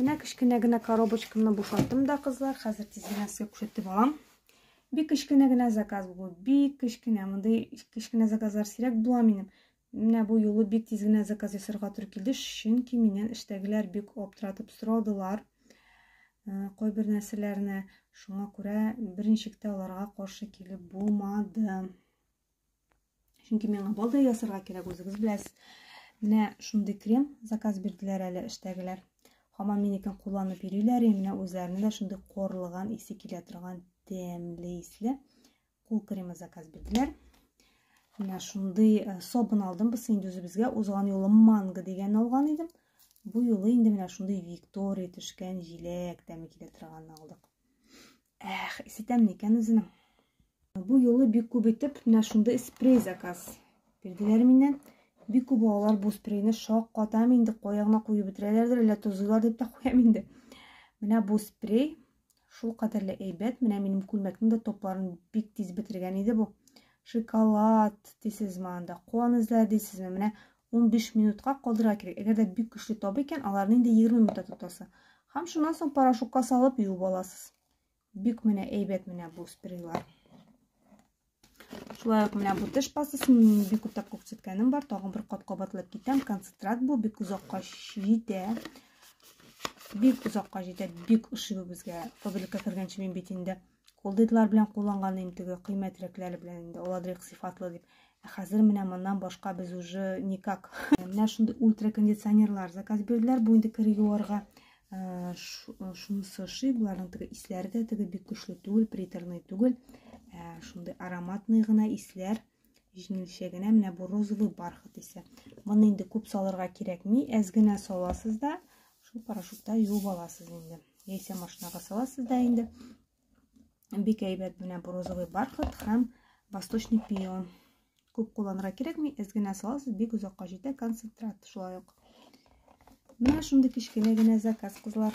Менә кечкенә генә коробочкамны бушаттым да, кызлар. Хәзер тиз генә сезгә күрсәтеп алам. Бик кечкенә генә заказ бу. Бик кечкенә. Мондый кечкенә заказлар сирәк була минем. Менә бу юлы бик тиз генә заказ ясарга туры килде, чөнки миннән эштәгеләр бик аптыратып сорадылар. Э, кайбер нәрсәләрне шуңа күрә берничек тә аларга каршы килеп булмады. Чөнки миңа бал да ясарга кирәк, үзегез беләсез. Менә шундый крем заказ бирделәр әле эштәгеләр. Хаман минекен кулланып йөриләр, менә үзләренә дә шундый корлыган исе килә торган тәмле исле кул кремы заказ бирделәр. Менә шундый э, сабын алдым, без инде үзебезгә узган юлы манго дигән алган идем. Бу юлы инде менә шундый Виктория төшкән җиләк тәме килә торган алдык. Эх, исетәм никән үзенең. Бу юлы бик күп итеп менә шундый спрей заказ бирделәр миннән. Бик күп алар бу спрейны шаккатам инде, каягына куеп бетерәләрдер, әллә тозыйлар дип тә куям инде. Менә бу спрей шул кадәрле әйбәт, менә минем күлмәкнең дә топларын бик тиз бетергән иде бу. Шоколад дисезме анда, куан эзләр дисезме, менә 15 минутка калдырырга кирәк. Әгәр дә бик көчле табы икән, аларны инде 20 минутта тотасы. Һәм шуннан соң порошокка салып юып аласыз. Бик менә әйбәт менә бу спрейлар. Шулай ук менә бу теш пастасын мин бик күптәп күрсәткәнем бар. Тагын бер кат кабатлап китәм. Концентрат бу бик озакка җитә. Бик озакка җитә. Бик ошый бу безгә. Фабрика кергәнче мин бит инде Кул дидлар белән кулланган инде теге кыйммәтрәкләре белән инде аладрек сыйфатлы дип. Ә хәзер менә моннан башка без уже никак. Менә шундый ультракондиционерлар заказ бирделәр. Бу инде кер юарга э, шунысы ши, боларның теге исләре дә теге бик көчле түгел, приторный түгел. Э, шундый ароматный гына исләр. Җиңелчә генә менә бу розовый бархат исә. Моны инде күп салырга кирәкми, әз генә саласыз да, шул порошокта юып аласыз инде. Яисә машинага саласыз да инде. Бик әйбәт менә бу розовый бархат һәм восточный пион. Күп кулланырга кирәкми, әз генә саласыз, бик озакка җитә концентрат шулай ук. Менә шундый кечкенә генә заказ, кызлар.